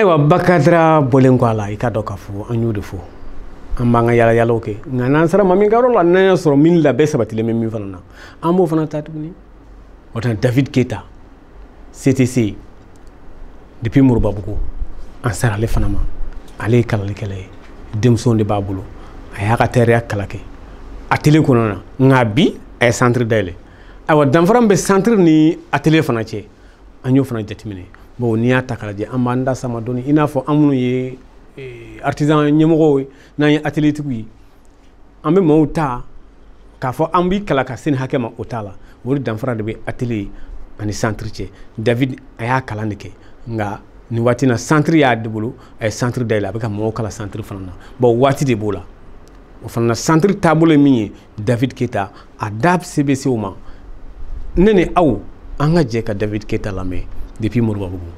ayiwa bakadra bɔlen kɔ a la i k'a dɔn k'a fɔ an y'o de fɔ an b'an ka yalayalaw kɛ nka n'an sera maa min ka yɔrɔ la n'an y'a sɔrɔ min labɛn sabatilen bɛ min fana na an b'o fana ta tuguni o tuma na david keyita ctc depuis moribabugu an sera ale fana ma ale ye kalalikɛla ye denmisɛnw de b'a bolo a y'a ka tayɛriya kalan kɛ atelier kɔnɔna na nka bi a ye centre dayɛlɛ ayiwa danfara min bɛ santiri ni atelier fana cɛ an y'o fana jateminɛ bon n'i y'a ta k'a lajɛ an b'an da sama dɔɔni i n'a fɔ an minnu ye eh, artisan ɲɛmɔgɔw ye n'an ye atelier tigiw ye an bɛ maaw ta k'a fɔ an b'i kalan ka se nin hakɛ ma o t'a la o de danfara de bɛ atelier ani santiri cɛ david a y'a kalan de kɛ nka nin waati na santiri y'a de bolo a ye santiri dayɛlɛ a bɛ ka mɔgɔw kalan santiri fana na bon waati de b'o la o fana na santiri taabolo ye min ye david keyita a da se bɛ se o ma ne ni aw an ka jɛ ka david keyita lamɛn depuis moribabugu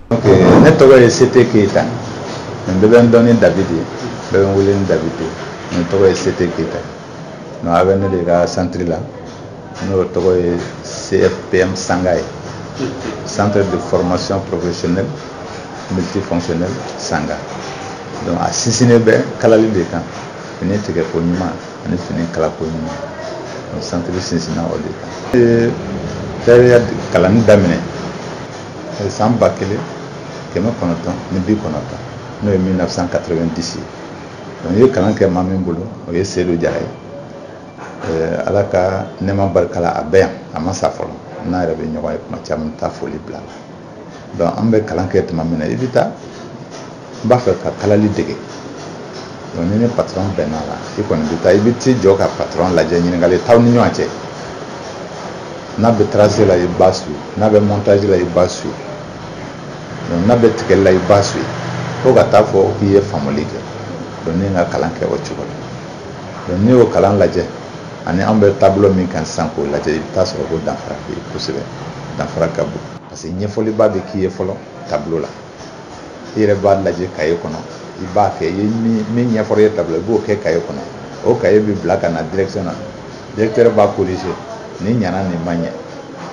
ne tɔgɔ ye sete keyita ne bɛɛ bɛ n dɔn ni david ye bɛɛ bɛ n wele ni david ye ne tɔgɔ ye sete keyita donc a bɛ ne de ka santiri la n'o tɔgɔ ye cfpm sanga ye centre de formation professionnelle multifonctionnelle sanga donc a sinsinnen bɛ kalali de kan fini tigɛko ɲuman ani fini kalako ɲuman o santiri sinsinna o de kan n ye tayɛriya kalanni daminɛ san ba kelen kɛmɛ kɔnɔntɔn ni bi kɔnɔntɔn n'o ye 1990 ye n ye kalan kɛ maa min bolo o ye sedu jara ye Eh, ala ka nɛɛma barika la a bɛ yan a ma sa fɔlɔ n'a yɛrɛ bɛ ɲɔgɔn ye tuma caman taa foli bila a la donc an bɛ kalan kɛ tuma min na i bɛ taa n b'a fɛ ka kalali dege donc n'i ni patron bɛnna a la i kɔni bɛ taa i bɛ t'i jɔ ka patron lajɛ ɲininkali t'aw ni ɲɔgɔn cɛ n'a bɛ trace la i b'a suivre n'a bɛ montage la i b'a suivre donc n'a bɛ tigɛli la i b'a suivre fo ka t'a fɔ k'i ye faamuli kɛ donc ne ye n ka kalan kɛ o cogo la donc n'i y'o kalan lajɛ ani an bɛ taabolo min kan sisan k'o lajɛ i bɛ t'a sɔrɔ ko danfara bɛ yen kosɛbɛ danfara ka bon parce que ɲɛfɔliba bɛ k'i ye fɔlɔ tableau la i yɛrɛ b'a lajɛ kaye kɔnɔ i b'a kɛ i ye min ɲɛfɔra i ye tableau i b'o kɛ kaye kɔnɔ o kaye bɛ bila ka na direction na directeur b'a corriger nin ɲana nin ma ɲɛ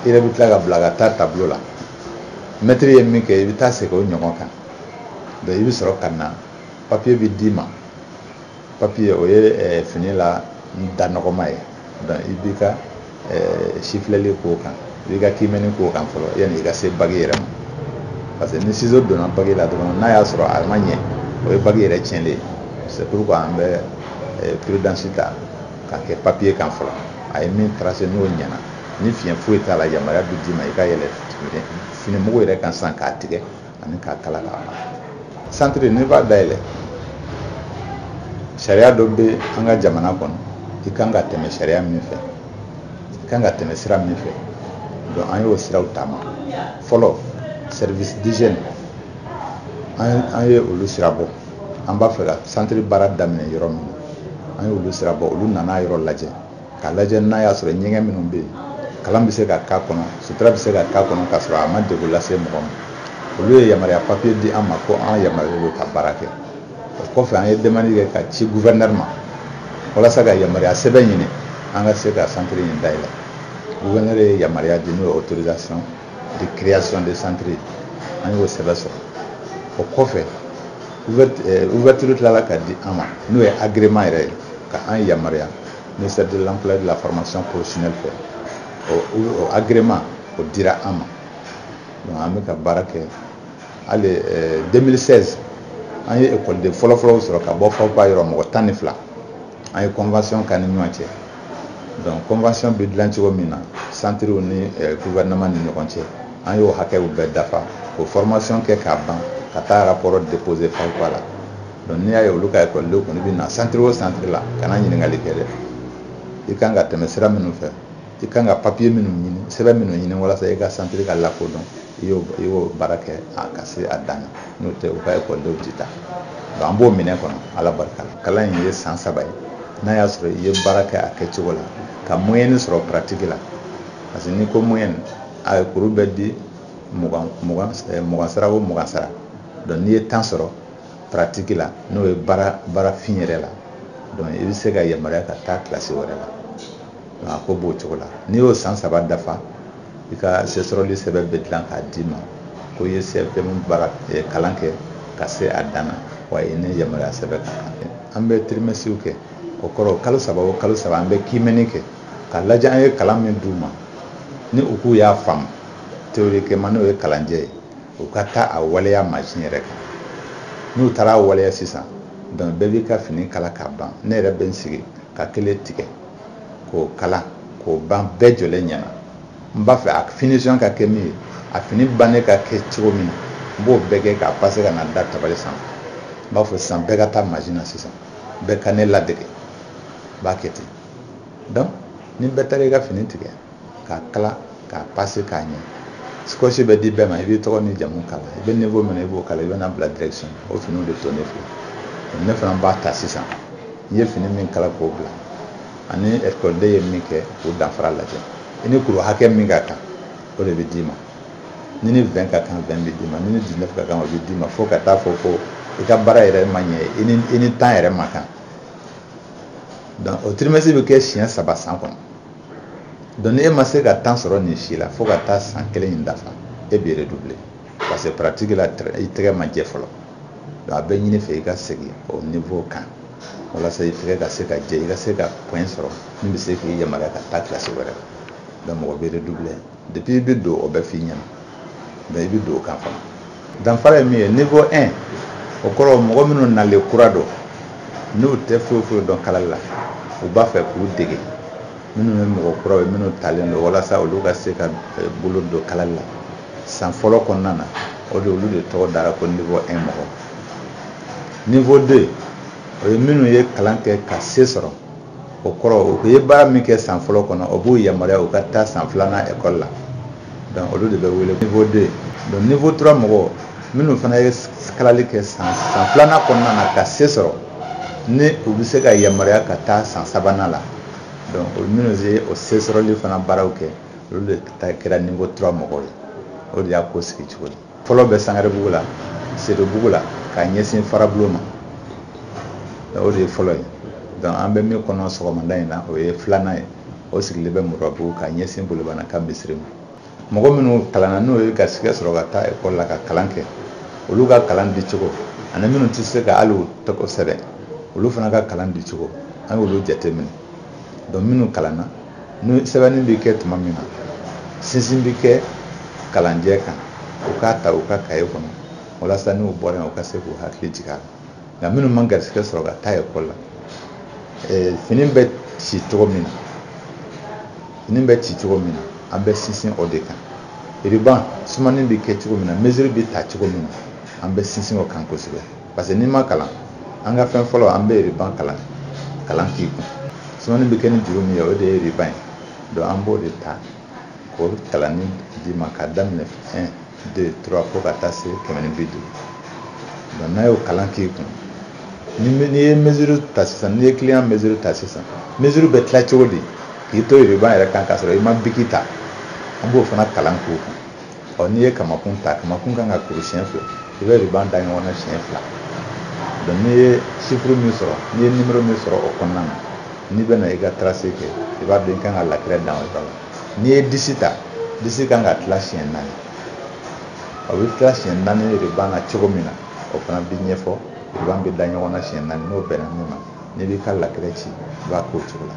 i yɛrɛ bɛ tila ka bila ka taa tableau la mɛtiri ye min kɛ i bɛ taa segin o ɲɔgɔn kan donc i bɛ sɔrɔ ka na papiye bɛ d'i ma papiye o ye eh, fini la da nɔgɔma ye donc i b'i ka eh, sifilɛli k'o kan i b'i ka kiimɛni k'o kan fɔlɔ yanni i ka se bagi yɛrɛ ma parce que ni sizo donna bagi la dɔrɔn n'a y'a sɔrɔ a ma ɲɛ o ye bagi yɛrɛ tiɲɛlen ye c'est pourquoi an bɛ eh, prudence ta k'a kɛ papiye kan fɔlɔ a ye min tracer n'o ɲɛna ni fiɲɛ foyi t'a la yamaruya bɛ d'i ma i ka yɛlɛ fini mugu yɛrɛ kan sisan k'a tigɛ ani k'a kala k'a ban santiri n'i b'a dayɛlɛ sariya dɔ bɛ an ka jamana kɔnɔ i kan ka tɛmɛ sariya min fɛ i kan ka tɛmɛ sira min fɛ donc an y'o siraw taama fɔlɔ service d'hygiène an ye olu sira bɔ an b'a fɛ ka santiri baara daminɛ yɔrɔ min na an y'olu sira bɔ olu nana yɔrɔ lajɛ ka lajɛ n'a y'a sɔrɔ ɲɛgɛn minnu bɛ yen kalan bɛ se ka k'a kɔnɔ sutura bɛ se ka k'a kɔnɔ k'a sɔrɔ a ma degun lase mɔgɔ ma olu ye yamaruya papiye di an ma ko an yamaruyalen don ka baara kɛ o kɔfɛ an ye demande kɛ ka ci gouverneur ma walasa ka yamaruya sɛbɛn ɲini an ka se ka centre in dayɛlɛ gouverneur ye yamaruya di n'o ye autorisation de création de centre ye an y'o sɛbɛn sɔrɔ o kɔfɛ ouverture tilala ka di an ma n'o ye agrément yɛrɛ ye ka an yamaruya ministère de l'emploi et de la formation professionnelle fɛ o agrément o dira an ma donc an bɛ ka baara kɛ hali 2016 an ye ekɔliden fɔlɔfɔlɔw sɔrɔ ka bɔ FAFPA yɔrɔ mɔgɔ tan ni fila an ye convention k'an ni ɲɔgɔn cɛ donc convention bɛ dilan cogo min na santiriw ni eh, gouvernement ni ɲɔgɔn cɛ an y'o hakɛw bɛɛ dafa o formation kɛ k'a ban ka taa rapport déposer FAFPA la donc n'i y'a ye olu ka ekɔliden kɔni bɛ na santiri o santiri la kana ɲininkali kɛ dɛ i kan ka tɛmɛ sira minnu fɛ i kan ka papiye minnu ɲini sɛbɛn minnu ɲini walasa i ka santiri ka lakodɔn i y'o baara kɛ ka se a dan na n'o tɛ u ka ekɔlidenw tɛ taa donc an b'o minɛ kɔnɔ ala barika la kalan in ye san saba ye n'a y'a sɔrɔ i ye baara kɛ a kɛcogo la ka moyɛni sɔrɔ paratigi la parce que n'i ko moyɛni a ye kuru bɛ di mugan mugan eh, mugan sara o mugan sara donc n'i ye tan sɔrɔ paratigi la n'o ye baara baarafin yɛrɛ la donc i bɛ se ka yamaruya ka taa kilasi wɛrɛ la a ko b'o cogo la n'i y'o san saba dafa i ka sesɔrɔli sɛbɛn bɛ dilan k'a d'i ma ko i ye CFM baara eh, kalan kɛ ka se a dan na wa i ni yamaruya sɛbɛn ka kan an bɛ tirimɛsiw kɛ o kɔrɔ kalo saba o kalo saba an bɛ kiimɛni kɛ ka lajɛ an ye kalan min d'u ma ni u k'u y'a faamu théoriquement n'o ye kalanjɛ ye u ka taa a waleya mansin yɛrɛ kan n'u taara a waleya sisan donc bɛɛ b'i ka fini kala k'a ban ne yɛrɛ bɛ n sigi ka kelen tigɛ k'o kala k'o ban bɛɛ jɔlen ɲɛna n b'a fɛ a finition ka kɛ min ye a fini bannen ka kɛ cogo min na n b'o bɛɛ kɛ k'a pase ka n'a da tabali sanfɛ n b'a fɔ sisan bɛɛ ka taa mansin na sisan bɛɛ ka ne ladege n b'a kɛ ten donc ni bɛɛ taara i ka fini tigɛ k'a kala k'a pase k'a ɲɛ sikɔsi bɛ di bɛɛ ma i b'i tɔgɔ ni jamu k'a la i bɛ niveau min na i b'o k'a la i bɛ n'a bila direkisɔn o finiw bɛ to ne fɛ ne fana b'a ta sisan n ye fini min kala k'o bila ani ekɔliden ye min kɛ k'o danfara lajɛ i ni kuru hakɛ min ka kan o de bɛ d'i ma n'i ni vingt ka kan vingt bɛ d'i ma n'i ni dix-neuf ka kan o bɛ d'i ma fo ka taa fɔ ko i ka baara yɛrɛ ma ɲɛ i ni i ni tan yɛrɛ man kan donc o tirimɛsi bɛ kɛ siɲɛ saba san kɔnɔ donc ni e ma se ka tan sɔrɔ nin si la fo ka taa san kelen in dafa e bɛ redoubler parce que pratique la i tɛgɛ ma jɛ fɔlɔ donc a bɛ ɲini i fɛ i ka segin o niveau kan walasa i tɛgɛ ka se ka jɛ i ka se ka point sɔrɔ min bɛ se k'i yamaruya ka taa kilasi wɛrɛ la donc mɔgɔ bɛ redoubler Depuis i bɛ don o bɛ f'i ɲɛna mais i bɛ don o kan fana danfara ye min ye niveau 1 o kɔrɔ mɔgɔ minnu nalen kura don n'u tɛ foyi foyi dɔn kalali la u b'a fɛ k'u dege minnu ye mɔgɔ kuraw ye minnu talen don walasa olu ka se ka eh, bolo don kalali la san fɔlɔ kɔnɔna na o de olu de tɔgɔ dara ko niveau 1 mɔgɔ niveau 2 o ye minnu ye kalan kɛ ka se sɔrɔ o kɔrɔ u ye baara min kɛ san fɔlɔ kɔnɔ o b'u yamaruya u ka taa san filanan ekɔli la donc olu de bɛ wele niveau deux donc niveau trois mɔgɔw minnu fana ye kalali kɛ san san filanan kɔnɔna na ka se sɔrɔ ni u bɛ se ka yamaruya ka taa san sabanan la donc olu minnu ye o se sɔrɔli fana baaraw kɛ olu de ta kɛra niveau trois mɔgɔw ye o de y'a ko sigi cogo ye fɔlɔ bɛ sangarebugu la sedobugu la ka ɲɛsin farabulon ma o de ye fɔlɔ ye donc an bɛ min kɔnɔ sɔgɔmada in na o ye filanan ye o sigilen bɛ murabugu ka ɲɛsin bolibana ka misiri ma mɔgɔ minnu kalanna n'u ye garisɛgɛ sɔrɔ ka taa ekɔli la ka kalan kɛ olu ka kalan di cogo ani minnu tɛ se ka hali u tɔgɔ sɛbɛn olu fana ka kalan di cogo an y'olu jateminɛ donc minnu kalanna ni sɛbɛnni bɛ kɛ tuma min na sinsin bɛ kɛ kalanjɛ kan u k'a ta u ka kaye kɔnɔ walasa n'u bɔra yen u ka se k'u hakili jigin a la nka minnu ma garisigɛ sɔrɔ ka taa ekɔli la eh, fini bɛ ci cogo min na an bɛ sinsin o de kan iriban sumani bɛ kɛ cogo min na mesiri bɛ ta cogo min na an bɛ sinsin o kan kosɛbɛ parce que n'i ma kalan an ka fɛn fɔlɔ an bɛ riban kalan kalan k'i kun sumani bɛ kɛ ni juru min ye o de ye riban ye donc an b'o de ta k'o kalanni d'i ma ka daminɛ un deux trois fo ka taa se kɛmɛ ni bi duuru donc n'a y'o kalan k'i kun ni n'i ye mesure ta sisan n'i ye client mesure ta sisan mesure bɛ tila cogo di k'i to riban yɛrɛ kan k'a sɔrɔ i ma biki ta an b'o fana kalan k'o kun ɔ n'i ye kamakun ta kamakun kan ka kuru siɲɛ fila i bɛ riban da ɲɔgɔn na siɲɛ fila donc n'i ye sifuru min sɔrɔ n'i ye nimero min sɔrɔ o kɔnɔna na n'i bɛna i ka tarase kɛ i b'a dɔn i kan ka lakɛrɛ dan o yɔrɔ la n'i ye disi ta disi kan ka tila siɲɛ naani a bɛ tila siɲɛ naani riban na cogo min na o fana bɛ ɲɛfɔ riban bɛ da ɲɔgɔn na siɲɛ naani n'o bɛnna min ma n'i b'i ka lakɛrɛ ci i b'a k'o cogo la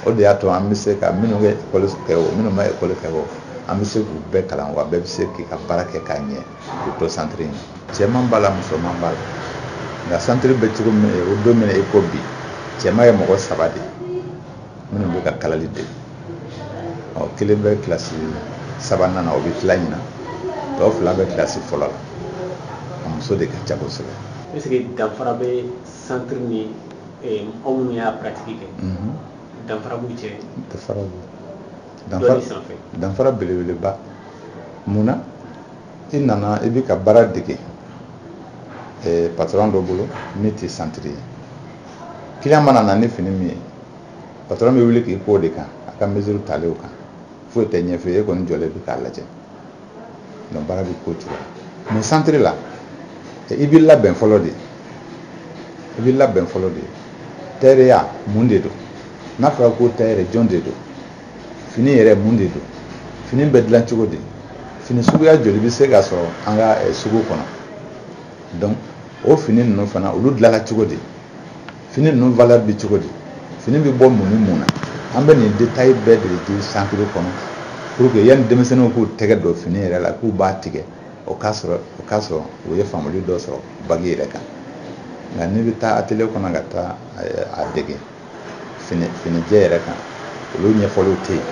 o de y'a to an bɛ se ka minnu ye ekɔli kɛ o minnu ma ekɔli kɛ o an bɛ se k'u bɛɛ kalan wa bɛɛ bɛ se k'i ka baara kɛ k'a ɲɛ k'u to santiri in cɛman b'a la musoman b'a la nka santiri bɛ cogo min o don min na i ko bi cɛman ye mɔgɔ saba de ye minnu bɛ ka kalali dege kelen bɛ kilasi sabanan na o bɛ tila ɲinan tɔ fila bɛ kilasi fɔlɔ la a muso de ka ca kosɛbɛ. Est-ce que danfara bɛ centre ni eh, mɔgɔ minnu y'a pratiki kɛ mhm. danfara b'u cɛ danfara b'u danfara sanfɛ danfara belebeleba mun na i nana i bɛ ka baara dege eh, patɔrɔn dɔ bolo min tɛ santiri ye kiliyan mana na ni fini min ye patɔrɔn bɛ wuli k'i k'o de kan a ka mesure talenw kan foyi tɛ ɲɛfɔ e kɔni jɔlen bɛ k'a lajɛ donc baara bɛ k'o cogo la mais centre la i bɛ labɛn fɔlɔ de i bɛ labɛn fɔlɔ de tayɛriya mun de don n'a fɔra ko tayɛri jɔn de don fini yɛrɛ mun de don fini bɛ dilan cogo di fini suguya joli bɛ se ka sɔrɔ an ka sugu kɔnɔ donc o fini ninnu fana olu dilanna cogo di fini ninnu valeur bɛ cogo di fini bɛ bɔ mun ni mun na an bɛ nin détail bɛɛ de di centre kɔnɔ pour que yanni denmisɛnninw k'u tɛgɛ don fini yɛrɛ la k'u b'a tigɛ o k'a sɔrɔ o k'a sɔrɔ u ye faamuyali dɔ sɔrɔ bagi yɛrɛ kan nka n'i bɛ taa atelier kɔnɔ ka taa a dege fini finijɛ yɛrɛ kan olu ɲɛfɔliw tɛ yen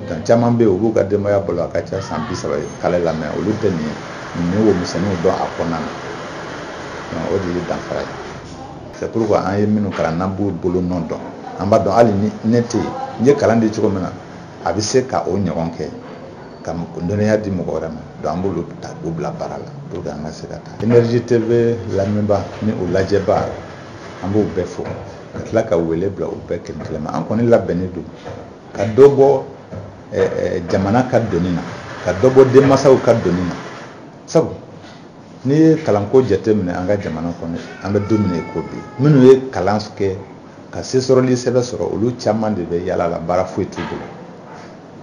dan caman bɛ yen u b'u ka denbaya balo a ka ca san bi saba ye kalali la mais olu tɛ nin ye nin ye ko misɛnninw dɔn a kɔnɔna na o de ye danfara ye c'est pourquoi an ye minnu kalan n'an b'u bolo nɔ dɔn an b'a dɔn hali ni ne tɛ yen n ye kalan di cogo min na a bɛ se ka o ɲɔgɔn kɛ ka dɔnniya di mɔgɔ wɛrɛ ma donc an b'olu ta k'u bila baara la pour que an ka se ka taa énergie tv lamɛnbaa ni o lajɛbaa an b'u bɛɛ fo ka tila ka wele bila u bɛɛ kelen kelen ma an kɔni labɛnnen don ka dɔ bɔ jamana ka doni na ka dɔ bɔ denmansaw ka doni na sabu n'i ye kalanko jateminɛ an ka jamana kɔnɔ an bɛ don min ko bi minnu ye kalan kɛ ka se sɔrɔli sɛbɛn sɔrɔ olu caman de bɛ yaala la baara foyi t'u bolo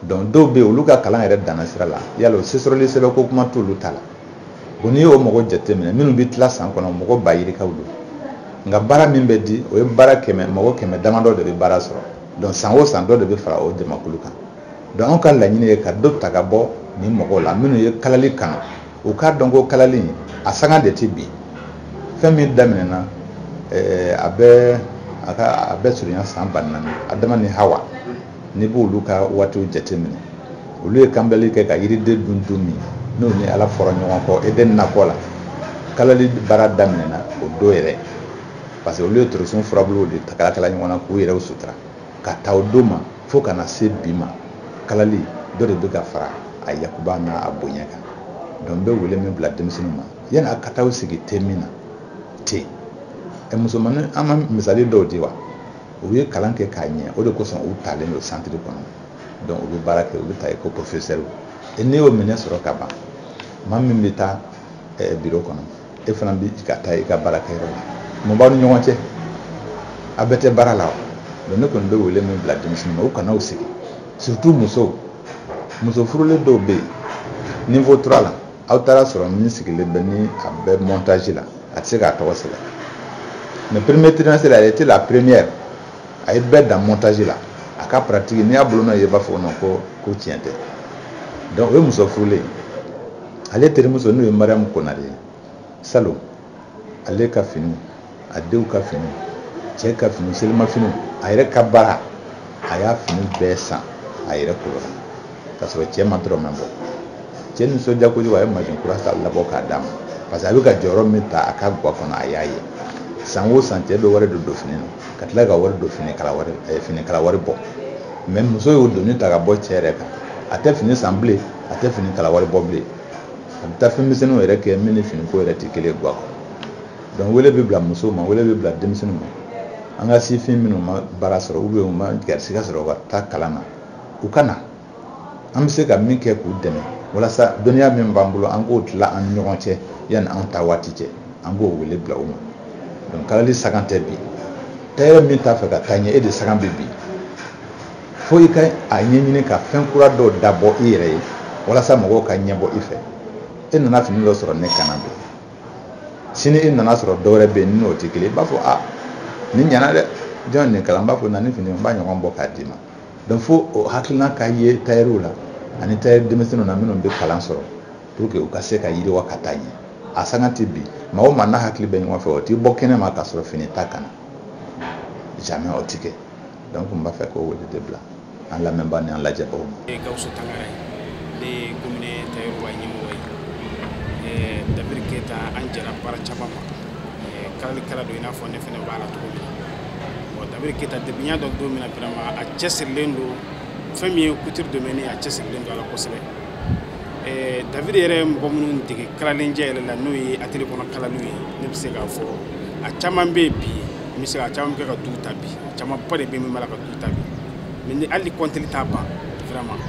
donc dɔw bɛ yen olu ka kalan yɛrɛ danna sira la yala o se sɔrɔli sɛbɛn ko kuma t'olu ta la bon n'i y'o mɔgɔ jateminɛ minnu bɛ tila san kɔnɔ mɔgɔ ba yirikaw don nka baara min bɛ di o ye baara kɛmɛ mɔgɔ kɛmɛ damadɔ de bɛ baara sɔrɔ donc san o san dɔ de bɛ fara o jamakulu kan donc anw ka laɲini ye ka dɔ ta ka bɔ nin mɔgɔw la minnu ye kalali kan u k'a dɔn ko kalali a sanga de tɛ bin fɛn min daminɛna eh, a bɛ a ka a bɛ surunya san ba naani adama ni hawa n'i b'olu ka waatiw jateminɛ olu ye kanbilali kɛ ka yiriden dun don min n'u ni ala fɔra ɲɔgɔn kɔ eden nakɔ la kalali baara daminɛna o don yɛrɛ parce que olu ye torosun furabuluw de kalakala ɲɔgɔn na k'u yɛrɛw sutura ka ta o don ma fo ka na se bi ma kalali dɔ de bɛ ka fara a yakuba n'a a bonya kan donc n bɛ wele min bila denmisɛnninw ma yani a ka taa u sigi te min na ten ɛ musomanin an ma misali dɔw di wa u ye kalan kɛ k'a ɲɛ o de kosɔn u talen don santiri kɔnɔ donc u bɛ baara kɛ u bɛ ta i ko professeur e n'i y'o minɛ sɔrɔ ka ban maa min bɛ taa biro kɔnɔ e fana bɛ ka taa i ka baarakɛyɔrɔ la mun b'aw ni ɲɔgɔn cɛ a bɛɛ tɛ baara la wa ne kɔni bɛ wele min bila denmisɛnnin ma u kana u sigi surtout musow muso furulen dɔw bɛ yen niveau trois la aw taara sɔrɔ min sigilen bɛ ni a bɛ montage la a tɛ se k'a tɔgɔ sɛbɛn mais premier trimestre a était la première a ye bɛɛ dan montage la a ka pratique n'i y'a bolonɔ ye i b'a fɔ ko ko tiɲɛ tɛ donc o ye muso furulen ye ale terimuso n'o ye mariyamu konare ye salon ale ka fini a denw ka fini cɛ ka fini selimafiniw a yɛrɛ ka baara a y'a fini bɛɛ san a yɛrɛ kolo la k'a sɔrɔ cɛ ma dɔrɔmɛ bɔ cɛ nisɔndiya kojugu a ye mansin kura ta labɔ k'a d'a ma parce que a bɛ ka jɔyɔrɔ min ta a ka gwa kɔnɔ a y'a ye san o san cɛ bɛ wari don don fini na ka tila ka wari don finikala wari eh, finikala wari bɔ mais muso y'o doni ta ka bɔ cɛ yɛrɛ kan a tɛ fini san bilen a tɛ finikala wari bɔ bilen a bɛ taa fɛn misɛnninw yɛrɛ kɛ min ni finiko yɛrɛ tɛ kelen gwa donc wele bɛ bila muso ma wele bɛ bila denmisɛnninw ma an ka sifin minnu ma baara sɔrɔ u bɛ u ma garisigɛ sɔrɔ ka taa kalan na u ka na an bɛ se ka min kɛ k'u dɛmɛ walasa dɔnniya min b'an bolo an k'o tila an ni ɲɔgɔn cɛ yanni an taa waati cɛ an b'o wele bila u ma donc kalali sanga tɛ bin tayɛrɛ min t'a fɛ ka taa ɲɛ e de sanga bɛ bin fo i ka a ɲɛɲini ka fɛn kura dɔw dabɔ i yɛrɛ ye walasa mɔgɔw ka ɲɛbɔ i fɛ e nana fini dɔ sɔrɔ ne kan na bi sini e nana sɔrɔ dɔwɛrɛ bɛ yen n'o tɛ kelen i b'a fɔ a nin ɲana dɛ jɔn nin kala n b'a fɔ na ni fini n b'a ɲɔgɔn bɔ k'a d'i ma donc fo o hakilina ka ye tayɛriw la ani tayɛri denmisɛnninw na minnu bɛ kalan sɔrɔ pour que u ka se ka yiriwa ka taa ɲɛ a sanga tɛ bin maa o maa n'a hakili bɛ ɲɔgɔn fɛ o tɛ bɔ kɛnɛ ma k'a sɔrɔ fini t'a kan na jamais o tɛ kɛ donc n b'a fɛ k'o wele de bila an lamɛnbaw ni an lajɛbaw ma gawusu tangara ye ne ye commune tayɛriw ɲɛmɔgɔ ye david keyita an jɛra baara caman na kalalikɛla don i n'a fɔ ne fɛnɛ b'a la cogo min na david keyita depuis n y'a dɔn don min na vraiment a cɛsirilen don fɛn min ye couture domaine a cɛsirilen don a la kosɛbɛ david yɛrɛ mɔgɔ minnu dege kalali yɛrɛ la n'o ye atelier kɔnɔ kalaliw ye ne bɛ se k'a fɔ a caman bɛ yen bi n bɛ se ka caman kɛ ka du ta bi camanba de bɛ min b'a la ka du ta bi mɛ ni hali kɔnteli t'a ban vraiment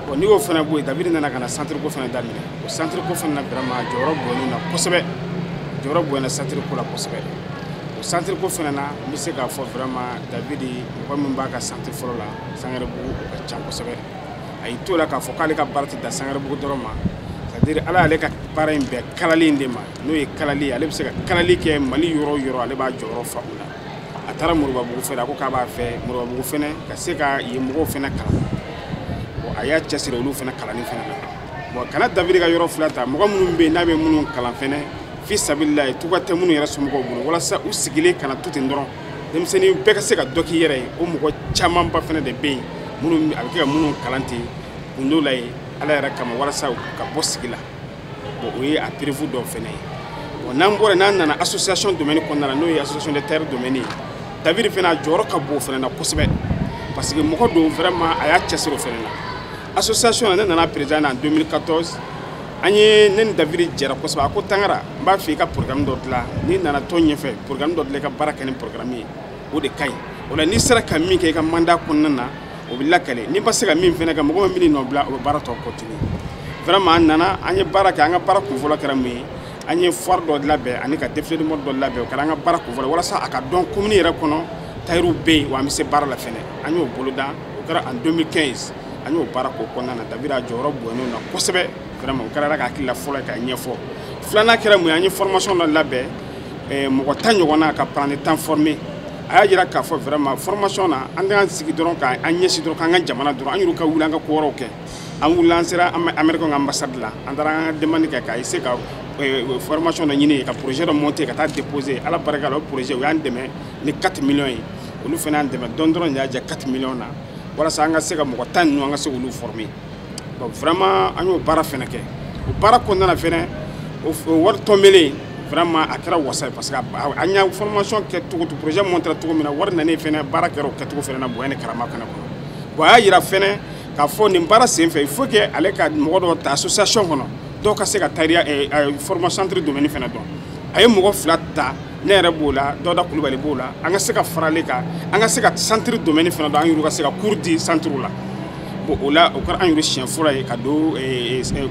bon n'i y'o fana bɔ yen david nana ka na centre ko fana daminɛ o centre ko fana na vraiment jɔyɔrɔ bonyana na kosɛbɛ jɔyɔrɔ bonyana centre ko la kosɛbɛ o centre ko fana na n bɛ se k'a fɔ vraiment david mɔgɔ min b'a ka centre fɔlɔ la sangarebugu o ka ca kosɛbɛ a y'i to la k'a fɔ k'ale ka baara tɛ dan sangarebugu dɔrɔn ma c'est à dire ala y'ale ka baara in bɛɛ kalali de ma n'o ye kalali ale bɛ se ka kalali kɛ mali yɔrɔ o yɔrɔ ale b'a jɔyɔrɔ fa o la a taara moribabugu fɛ a ko k'a b'a fɛ moribabugu fɛnɛ ka se ka yen mɔgɔw fɛnɛ kalan bon a y'a cɛsiri olu fɛnɛ kalanni fɛnɛ na bon ka na david ka yɔrɔ fila ta mɔgɔ minnu bɛ yen n'a bɛ minnu kalan fɛnɛ fi sabililahi tuba tɛ minnu yɛrɛ somɔgɔw bolo walasa u sigilen kana to ten dɔrɔn denmisɛnnin bɛɛ ka se ka dɔ k'i yɛrɛ ye o mɔgɔ camanba fɛnɛ de bɛ yen minnu a bɛ kɛ ka minnu kalan ten kun dɔw la ye ala yɛrɛ kama walasa u ka bɔ sigi la bon o ye a preuve dɔ fɛnɛ ye bon n'an bɔra n'an nana association domaine kɔnɔna na n'o ye association des tailleurs domaine ye david fɛnɛ a jɔyɔrɔ ka bon o fɛnɛ na kosɛbɛ parce que mɔgɔ don vraiment a y'a cɛsiri o fɛnɛ na association na ne nana président na en 2014 an ye ne ni david jɛra kosɛbɛ a ko tangara n b'a fɛ i ka programme dɔ dilan n'i nana tɔn ɲɛfɛ programme dɔ dilan i ka baara kɛ ni programme ye o de ka ɲi o la n'i sera ka min kɛ i ka mandat kɔnɔna na o bɛ lakale n'i ma se ka min fana kɛ mɔgɔ bɛ min nɔ bila o bɛ baara tɔ continuer vraiment an nana an ye baara kɛ an ka baara kunfɔlɔ kɛra mun ye an ye foire dɔ labɛn ani ka défilé mode dɔ labɛn o kɛra an ka baara kunfɔlɔ walasa a ka dɔn commune yɛrɛ kɔnɔ tayɛriw bɛ yen wa an bɛ se baara la fɛnɛ an y'o boloda o kɛra en 2015 an y'o baara k'o kɔnɔna na david a jɔyɔrɔ bonyana o na kosɛbɛ vraiment o kɛra an ka hakilila fɔlɔ ye k'a ɲɛfɔ filanan kɛra mun ye an ye formation dɔ labɛn mɔgɔ tan ɲɔgɔnna ka apprenti tan former a y'a jira k'a fɔ vraiment formation na an kana sigi dɔrɔn ka an ɲɛsin dɔrɔn k'an ka jamana dɔrɔn an yɛrɛ ka wuli an ka ko wɛrɛw kɛ an wulila an sera américain ka ambassade la an taara an ka demande kɛ ka essayer ka eh, formation dɔ ɲini ka projet dɔ monter ka taa déposer ala barika la o projet u y'an dɛmɛ ni 4 millions ye olu fana y'an dɛmɛ dɔɔni dɔrɔn de y'a jɛ 4 millions na walasa an ka se ka mɔgɔ tan ninnu an ka se k'olu former bon vraiment an y'o baara fɛnɛ kɛ o baara kɔnɔna na fɛnɛ o wari tɔnbelen vraiment a kɛra wasa ye parce que an y'a formation kɛ cogo to projet montera cogo min na wari nanen fɛnɛ baara kɛra o kɛcogo fɛnɛ na bonya ni karama fɛnɛ kɔnɔ bon a y'a yira fɛnɛ k'a fɔ nin baara sen fɛ il faut que ale ka mɔgɔ dɔ ta association kɔnɔ dɔw ka se ka tayɛriya formation centre domaine fɛnɛ dɔn a ye mɔgɔ fila ta ne yɛrɛ b'o la dawuda kulubali b'o la an ka se ka fara ale kan an ka se ka centre domaine fɛnɛ dɔn an yɛrɛ ka se ka cours di centre la bon o la o kɛra an yɛrɛ siɲɛ fɔlɔ ye ka don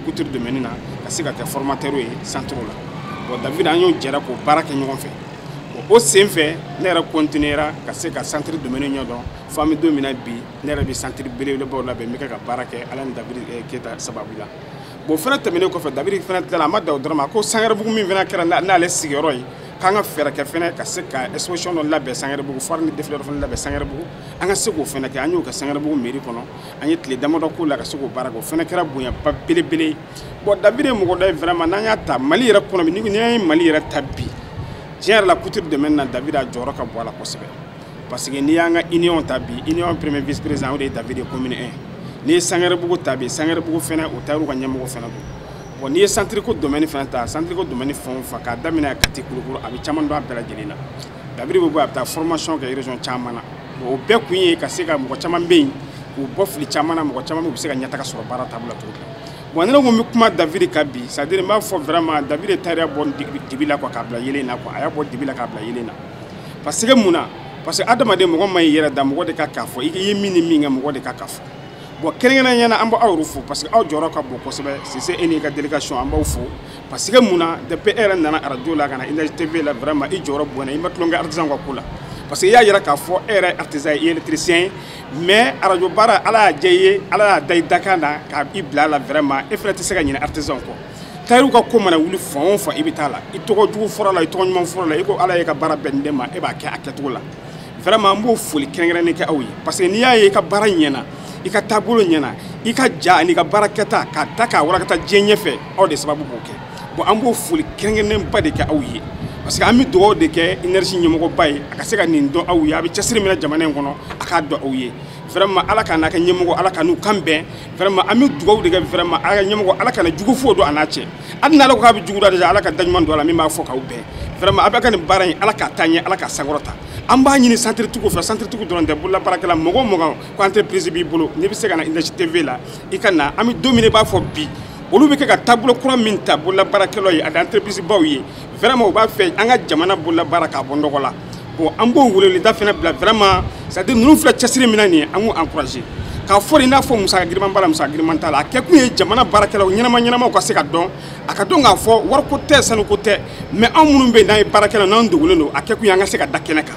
couture domaine na ka se ka kɛ formateur ye centre la bon david an n'o jɛra k'o baara kɛ ɲɔgɔn fɛ bon o sen fɛ ne yɛrɛ continuera ka se ka centre domaine ɲɛdɔn fo an bɛ don min na bi ne yɛrɛ bɛ centre belebelebaw labɛn n bɛ kɛ ka baara kɛ ala ni david keyita sababu la bon o fana tɛmɛnen kɔfɛ david fana tilala a ma dan o dɔrɔn ma ko sangɛrɛbugu min fana kɛra n'ale sigiyɔrɔ ye k'an ka fɛɛrɛ kɛ fana ka se ka exposition dɔ labɛn sangɛrɛbugu foire ni défilé dɔ fana labɛn sangɛrɛbugu an ka se k'o fana kɛ an y'o kɛ sangarabugu meri kɔnɔ an ye tile damadɔ k'o la ka se k'o baara kɛ o fana kɛra bonyaba belebele bon david ye mɔgɔ dɔ ye vraiment n'an y'a ta mali yɛrɛ kɔnɔ bi n'i ye mali yɛrɛ ta bi tiɲɛ yɛrɛ la couture domaine na david a jɔyɔrɔ ka bon a la kosɛbɛ parce que n'i y'an ka union ta bi union premier vice président o de ye david ye commune 1 n'i ye sangarabugu ta bi sangarabugu fana o tayɛriw ka ɲɛmɔgɔ fana don bon n'i ye santiriko domaine fana ta santiriko domaine fɛn o fɛn k'a daminɛ kati kulikɔrɔ a bɛ caman don a bɛɛ lajɛlen na david bɛ bɔ a bɛ taa formation kɛ région caman na bon o bɛɛ kun ye ka se ka mɔgɔ caman bɛ yen k'u bɔ fili caman na mɔgɔ caman bɛ u bɛ se ka ɲɛtaga sɔrɔ baara taabolo la cogo min na bon ne ko n bɛ kuma david kan bi c'est à dire n b'a fɔ vraiment david ye tayɛriya bɔ dibi la quoi k'a bila yeelen na quoi a y'a bɔ dibi la k'a bila yeelen na parce que mun na parce que adamaden mɔgɔ man ɲi i yɛrɛ da mɔgɔ de ka k'a fɔ i ye min ni min kɛ mɔgɔ de ka k'a fɔ bon kɛrɛnkɛrɛnnenya la an b'aw fo parce que aw jɔyɔrɔ ka bon kosɛbɛ sise e n'i ka délégation an b'aw fo parce que mun na depuis e yɛrɛ nana arajo la ka na energie tv la vraiment i jɔyɔrɔ bonyana i ma tulonkɛ artisan ka ko la parce que i y'a yira k'a fɔ e yɛrɛ artisan ye électricien ye mais arajo baara ala y'a diya i ye ala y'a da i dakan na ka i bila a la vraiment e fana tɛ se ka ɲinɛ artisan kɔ tayɛriw ka ko mana wuli fan o fan i bɛ taa a la i tɔgɔ jugu fɔra la i tɔgɔ ɲuman fɔra la i ko ala y'i ka baara bɛn nin de ma e b'a kɛ a kɛcogo la vraiment n b'o foli kɛrɛnkɛrɛnnen kɛ aw ye parce que n'i y'a ye i ka baara ɲɛna i ka taabolo ɲɛna i ka ja an'i ka baara kɛta k'a ta k'a walankata diɲɛ ɲɛfɛ aw de sababu b'o kɛ bon an bɛ foli kɛrɛnkɛrɛnnenba de kɛ aw ye parce que an bɛ dugawu de kɛ energie ɲɛmɔgɔba ye a ka se ka nin dɔn aw ye a bɛ cɛsiri min na jamana in kɔnɔ a k'a dɔn aw ye vraiment ala ka n'a kɛ ɲɛmɔgɔ ala ka n'u kan bɛn vraiment an bɛ dugawu de kɛ vraiment ala ka ɲɛmɔgɔ ala kana jugu foyi don a n'a cɛ hali n'ala ko k'a bɛ jugu da déjà ala ka daɲuman don a la min b'a fɔ k'aw bɛn vraiment a bɛ ka nin baara in ala k'a taa ɲɛ ala k'a sankɔrɔta an b'a ɲini santiritigiw fɛ santiritigiw dɔrɔn tɛ bololabaarakɛla mɔgɔ o mɔgɔ ko entreprise b'i bolo n'i bɛ se ka na energie tv la i ka na an bɛ don min i b'a fɔ bi olu bɛ kɛ ka taabolo kura min ta bololabaarakɛlaw ye ani entreprise baw ye vraiment u b'a fɛ an ka jamana bololabaara k'a bɔ nɔgɔ la bon an b'o weleweleda fana bila vraiment c'est à dire ninnu filɛ cɛsiri min na nin ye an k'u encourager k'a fɔ de i n'a fɔ musaka giriman b'a la musaka giriman t'a la a kɛkun ye jamana baarakɛlaw ɲɛnama ɲɛnamaw ka se ka dɔn a ka dɔn k'a fɔ wariko tɛ sanuko tɛ mais anw minnu bɛ yen n'an ye baarakɛlaw n'an dogolen don a kɛkun ye an ka se ka da kɛnɛ kan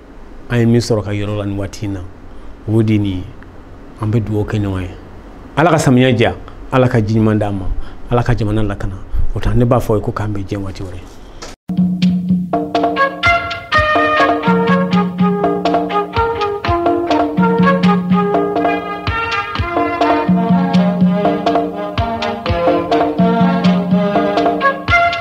an ye min sɔrɔ k'a yira aw la nin waati in na o de nin ye an bɛ dugawu kɛ ɲɔgɔn ye ala ka samiya diya ala ka ji ɲuman d'an ma ala ka jamana lakana o tɛ ne b'a fɔ aw ye ko k'an bɛn diɲɛ waati wɛrɛ